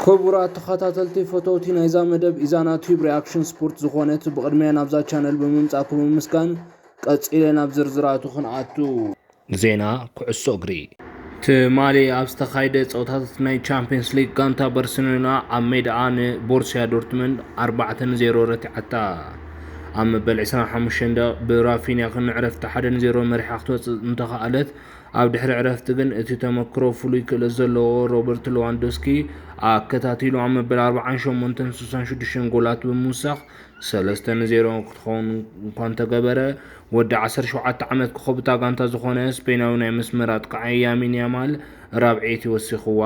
ክቡራት ተኸታተልቲ ፈተውቲ ናይዛ መደብ ኢዛና ቲዩብ ሪኣክሽን ስፖርት ዝኾነት ብቕድሚያ ናብዛ ቻነል ብምምጻእኩም ብምምስጋን ቀጺለ ናብ ዝርዝራቱ ክንኣቱ ዜና ኩዕሶ እግሪ ትማሊ ኣብ ዝተኻየደ ፀወታታት ናይ ቻምፒየንስ ሊግ ጋንታ ባርሴሎና ኣብ ሜዳኣ ንቦርሲያ ዶርትመንድ 4 ን0 ረቲዓታ ኣብ መበል 25 ደቕ ብራፊንያ ክንዕረፍቲ 1 ን0 መሪሓ ክትወፅእ እንተኸኣለት ኣብ ድሕሪ ዕረፍቲ ግን እቲ ተመክሮ ፍሉይ ክእለት ዘለዎ ሮበርት ለዋንዶስኪ ኣከታቲሉ ኣብ መበል 48ን 66ን ጎላት ብምውሳኽ 3 ን 0 ክትኸውን እኳ እንተገበረ ወዲ 17 ዓመት ኮኸብታ ጋንታ ዝኾነ ስፔናዊ ናይ መስመር ኣጥቃዒ ያሚን ያማል ራብዒይቲ ወሲኽዋ።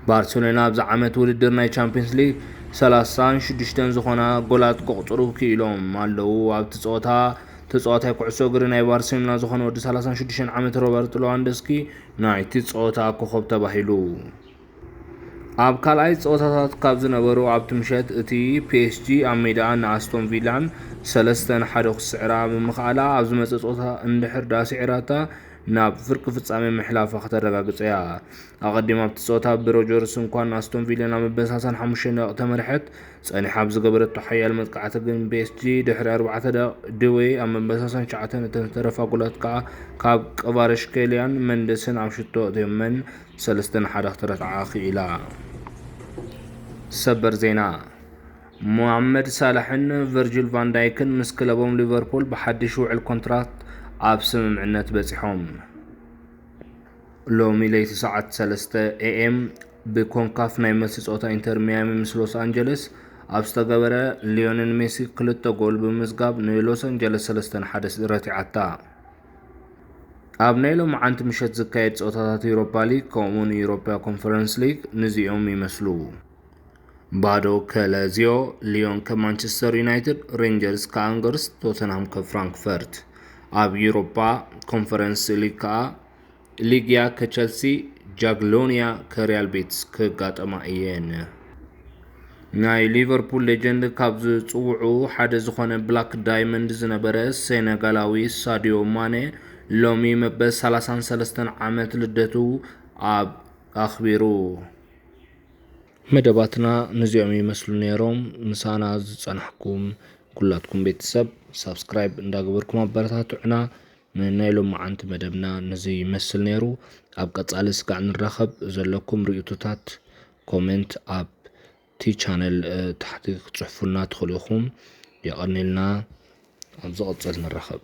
ባርሴሎና ኣብዚ ዓመት ውድድር ናይ ቻምፒየንስ ሊግ 36 ዝኾና ጎላት ከቑፅሩ ክኢሎም ኣለዉ ኣብቲ ፀወታ ተጻዋታይ ኩዕሶ እግሪ ናይ ባርሴሎና ዝኾነ ወዲ ሰላሳን ሽዱሽተን ዓመት ሮበርት ሎዋንደስኪ ናይቲ ጸወታ ኮኸብ ተባሂሉ። ኣብ ካልኣይ ጸወታታት ካብ ዝነበሩ ኣብቲ ምሸት እቲ ፒኤስጂ ኣብ ሜዳኣ ንኣስቶን ቪላን ሰለስተ ንሓደ ክስዕራ ብምኽኣላ ኣብ ዝመጸ ጸወታ እንድሕር ድኣ ስዒራታ ናብ ፍርቂ ፍጻሜ ምሕላፋ ከተረጋግጽ እያ ኣቐዲማ ኣብቲ ጸወታ ብሮጀርስ እንኳን ኣስቶን ቪላ ናብ መበሳሳን ሓሙሽተ ደቂ ተመርሐት ጸኒሓ ኣብ ዝገበረቶ ሓያል መጥቃዕቲ ግን ቤስጂ ድሕሪ ኣርባዕተ ደቂቕ ድዌ ኣብ መበሳሰን ሸዓተ ነተን ዝተረፋ ጎላት ከኣ ካብ ቀቫረሽከልያን መንደስን ኣብ ሽቶ ኣእትዮመን ሰለስተ ንሓደ ክትረትዓ ክኢላ። ሰበር ዜና ሞሃመድ ሳላሕን ቨርጅል ቫንዳይክን ምስ ክለቦም ሊቨርፑል ብሓድሽ ውዕል ኮንትራት ኣብ ስምምዕነት በጺሖም። ሎሚ ለይቲ ሰዓት ሰለስተ ኤኤም ብኮንካፍ ናይ መልሲ ፀወታ ኢንተር ሚያሚ ምስ ሎስ ኣንጀለስ ኣብ ዝተገበረ ሊዮኔል ሜሲ ክልተ ጎል ብምምዝጋብ ንሎስ ኣንጀለስ ሰለስተ ንሓደ ረቲዓታ። ኣብ ናይ ሎምዓንቲ ምሸት ዝካየድ ፀወታታት ዩሮፓ ሊግ ከምኡውን ዩሮፓ ኮንፈረንስ ሊግ ንዚኦም ይመስሉ። ባዶ ከለዚዮ ሊዮን ከማንቸስተር ዩናይትድ፣ ሬንጀርስ ከኣንገርስ፣ ቶተንሃም ከፍራንክፈርት። ኣብ ዩሮፓ ኮንፈረንስ ሊግ ከኣ ሊግያ ከቸልሲ፣ ጃግሎንያ ከሪያል ቤትስ ክጋጠማ እየን። ናይ ሊቨርፑል ሌጀንድ ካብ ዝፅውዑ ሓደ ዝኾነ ብላክ ዳይመንድ ዝነበረ ሴነጋላዊ ሳዲዮ ማኔ ሎሚ መበል 33 ዓመት ልደቱ ኣብ ኣኽቢሩ። መደባትና ንዚኦም ይመስሉ ነይሮም። ምሳና ዝጸናሕኩም ኩላትኩም ቤተሰብ ሳብስክራይብ እንዳገበርኩም ኣበረታትዑና። ንናይ ሎማዓንቲ መደብና ንዙይ ይመስል ነይሩ ኣብ ቀፃሊ ስጋዕ ንራኸብ ዘለኩም ሪኡቶታት ኮሜንት ኣብቲ ቻነል ታሕቲ ክትፅሕፉልና ትኽእሉ ኢኹም የቐኔልና ኣብ ዝቕፅል ንራኸብ።